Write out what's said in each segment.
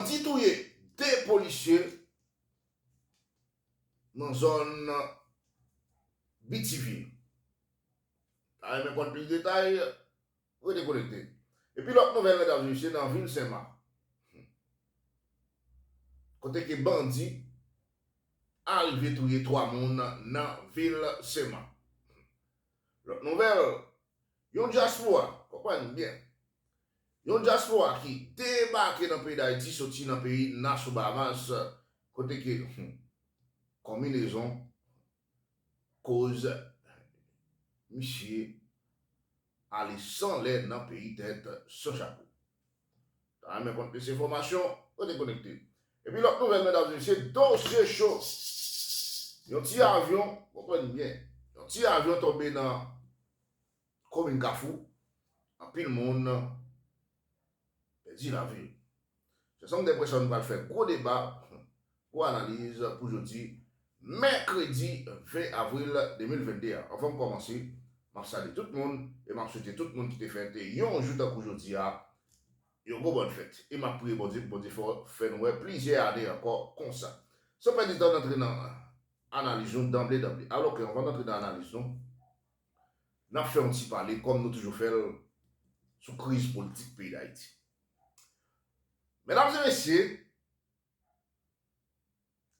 Bandi touye 2 polisye nan zòn BTV. Ta renmen konn plis detay? Rete konekte. Epi lòt nouvèl medam e mesye nan vil Senmak kote ke bandi arive touye 3 moun nan vil Senmak. Lòt nouvèl Yon dyaspora, konprann m byen, yon dyaspora ki debake nan peyi Dayiti soti nan peyi Nassau Bahamas kote ke konminezon koz misye ale san lè nan peyi tèt san chapo. Ta renmen konn plis enfòmasyon, rete konekte. Epi lòt nouvèl medam e mesye, dosye cho, yon ti avyon, konprann m byen, yon ti avyon tonbe nan. komin Kafou, anpil moun pèdi lavi yo. Se sa m gen enpresyon nou pral fè gwo deba, gwo analiz pou jodi mèkredi 20 avril 2022 a. Anvan m kòmanse, m ap salye tout moun e m ap swete tout moun ki te fèt yon jou tankou jodi a, yon gwo bòn fèt. E m ap priye Bondye pou Bondye fè n wè plizyè ane ankò konsa. San pèdi tan n antre nan analiz nou danble danble. Alò ke anvan n antre nan analiz nou, N ap fè yon ti pale, kòm nou toujou fè l, sou kriz politik peyi Dayiti. Medam e mesye,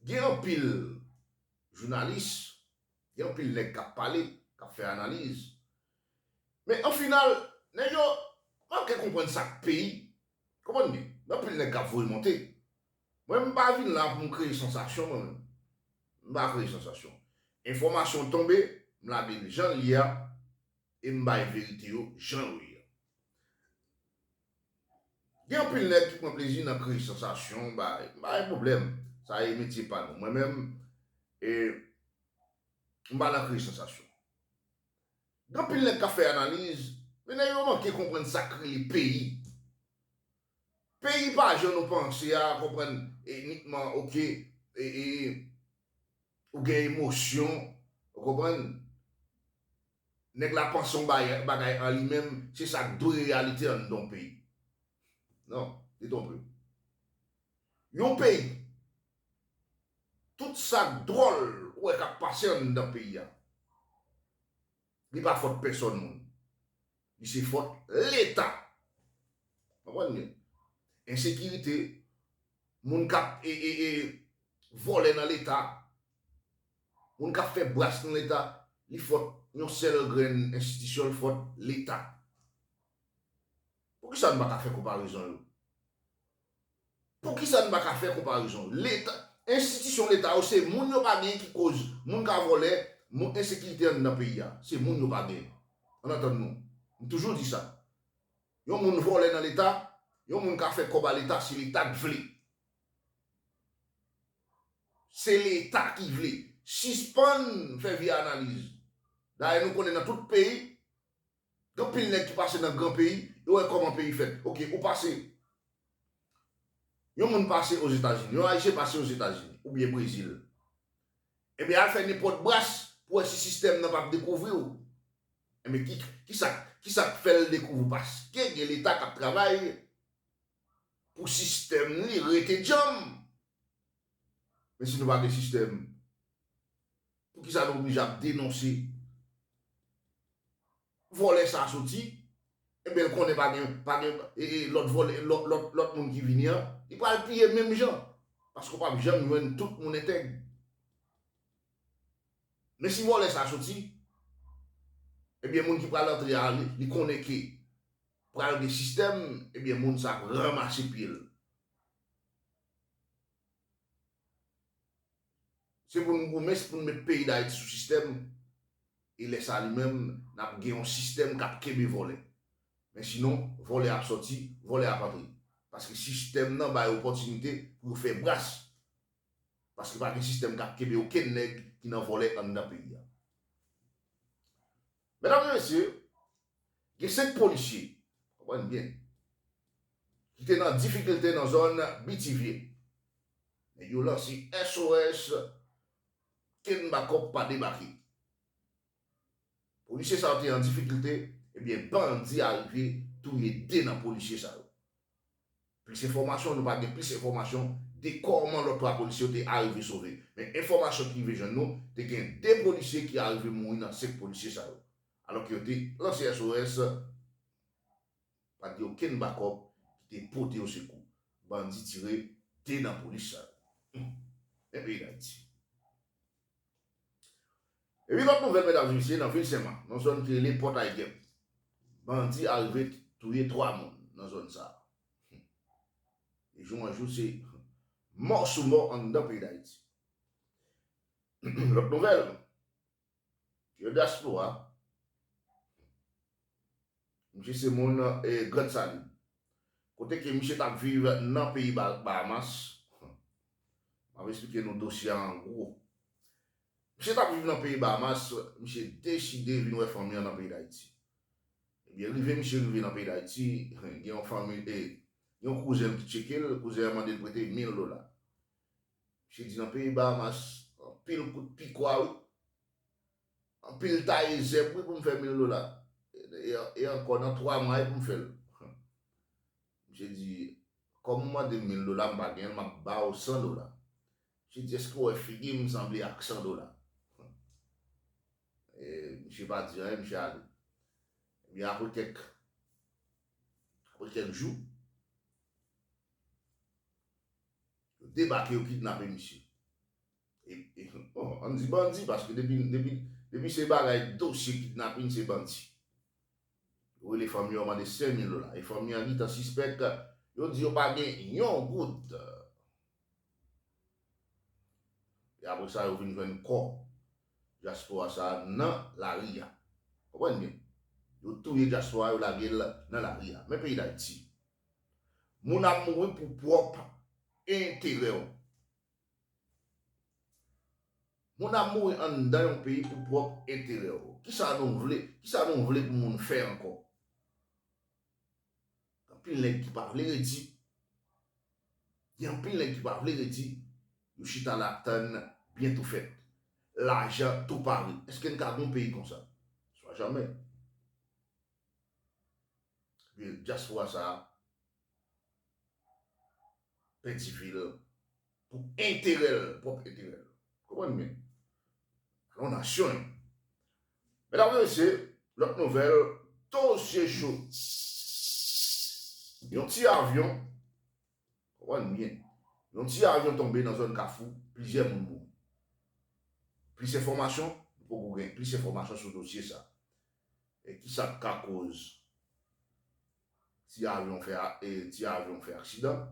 gen anpil jounalis, gen anpil nèg k ap pale, k ap fè analiz, men an final, nèg yo manke konprann sa k peyi. Konprann byen. Gen anpil nèg k ap voye monte. Mwen m pa vin la pou m kreye sansasyon mwen menm. M pa kreye sansasyon. Enfòmasyon tonbe, m lage l jan l ye a e m bay verite yo jan yo ye a. Gen anpil nèg ki pran plezi nan kreye sansasyon, bay, m pa gen pwoblèm. Sa e metye pa nou. Mwen menm, e, m pa nan kreye sansasyon. Gen anpil nèg k ap fè analiz, men nèg yo manke konprann sa k rele peyi. Peyi pa jan nou panse a konprann inikman ok ou gen emosyon ou konprann nèg la panse yon bagay an li menm se sa k dwe reyalite anndan yon peyi non li twonpe w yon peyi tout sa k dwòl ou wè k ap pase anndan peyi a li pa fòt pèsòn moun Li se fòt leta. Konprann byen. Ensekirite, moun kap e e e vòlè nan leta, moun kap fè bras nan leta, li fòt yon sèl grenn enstitisyon, li fòt leta. Poukisa nou pa ka fè konparezon yo? Poukisa n pa ka fè konparezon? Leta, enstitisyon leta yo se moun yo pa gen ki koz moun ka vòlè, moun ensekirite anndan peyi a. Se moun yo pa gen. An n antann nou. M toujou di sa. Yon moun vòlè nan leta, yon moun ka fè kòb a leta si leta t vle. Se leta ki vle. Sispann fè vye analiz. Dayè nou konnen nan tout peyi, Gen anpil nèg ki pase nan gran peyi, yo wè kòman peyi fèt. Ok, ou pase. Yon moun pase Ozetazini, yon Ayisyen pase Ozetazini oubyen Brezil. Enben al fè nenpòt bras pou wè si sistèm nan pap dekouvri w. Enben kisa, kisa k fè l dekouvri w? Paske gen Leta k ap travay pou sistèm li rete djanm. Men si nou pa gen sistèm? Poukisa nou oblije ap denonse vòlè sa soti enben l konnen pa gen pa gen lòt vòlè lòt moun ki vini an li pral piye menm jan paske w pap janm jwenn tout moun entèg men si vòlè sa soti enben moun ki pral antre a li konnen ke pral gen sistèm enben moun sa ap ranmase pye l. Se pou n goumen, se pou n met peyi Dayiti sou sistèm e lè sa li menm n ap gen yon sistèm k ap kenbe vòlè. Men sinon, vòlè ap sòti, vòlè ap antre. Paske sistèm nan bay opòtinite pou yo fè bras. Paske pa gen sistèm k ap kenbe okenn nèg ki nan vòlè anndan peyi a. Medam e mesye, gen 5 polisye, konprann m byen, ki te nan difikilte nan zòn Bitivye. Nèg yo lanse SOS, kenn bakòp pa debake. Polisye sa yo te an difikilte, ebyen bandi a rive touye 2 nan polisye sa yo. Plis enfòmasyon, Nou pa gen plis enfòmasyon de kòman lòt 3 polisye yo te arive sove. Men enfòmasyon ki rive jwenn nou, te gen 2 polisye ki arive mouri nan 5 polisye sa yo. Alò ke yo te lanse SOS, pa t gen okenn bakòp ki te pote yo sekou. Bandi tire 2 nan polis sa yo. Humm! Men peyi Dayiti. Epi lòt nouvèl medam mesye nan vil senman nan zòn ki rele pòtay gèp bandi arive touye 3 moun nan zòn sa de jou an jou se mò sou mò anndan peyi dayiti lòt nouvèl ke dyaspora. Misye se moun Grandson. Kote ke misye tap viv nan peyi Bahamas. Map esplike nou dosye a an gwo. Misye tap viv nan peyi Bahamas, misye deside vin wè fanmi an nan peyi Dayiti. Ebyen rive misye rive nan peyi Dayiti, gen yon fanmi, gen yon kouzen l ki tcheke l, kouzen an mande l prete 1000 dola. Misye di nan peyi Bahamas, anpil kout pikwa wi. Anpil taye zèb wi pou m fè mil dola e ankò nan 3 mwa wi pou m fè l Misye di kòm ou mande m mil dola m pa gen l m ap ba w 100 dola Misye di èske w wè figi m sanble ak 100 dola e misye pa di anyen misye ale Ebyen apre kèk apre kèk jou yo debake yo kidnape misye. Bon, an di bandi paske depi se bagay dosye kidnapin se bandi. Yo rele fanmi yo mande 5 mil dola e fanmi an gentan sispèk yo di yo pa gen yon goud. E apre sa yo vin jwenn kò dyaspora sa nan lari a. Konprann byen. Yo touye dyaspora yo lage l nan lari a. Men peyi Dayiti. Moun ap mouri pou pwòp enterè w. Moun ap mouri anndan yon peyi pou pwòp enterè w. Kisa nou vle? Kisa nou vle pou moun fè ankò? Gen anpil nèg ki pa vle redi. Gen anpil nèg ki pa vle redi. Yo chita la ap tann byen tou fèt. Lajan tou pare. Eske n ka gen yon peyi konsa? Swa jamè. Ebyen, dyaspora sa a, Pèdi vi l pou enterè l, pwòp enterè l. Konprann byen. Alon w nasyon e. Medam e mesye, lòt nouvèl, dosye cho. Yon ti avyon, konprann byen, yon ti avyon tonbe nan zòn Kafou, plizyè moun mouri. Plis enfòmasyon, nou poko gen plis enfòmasyon sou dosye sa. E kisa k ka koz. ti avyon fè e ti avyon fè aksidan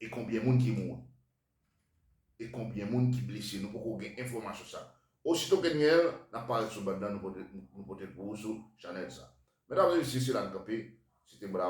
e konbyen moun ki mouri e konbyen moun ki blese nou poko gen enfòmasyon sa osito ke n gen l nap parèt sou band nan nou pote l pou ou sou chanèl sa mèdam e mesye se la n kanpe se te bra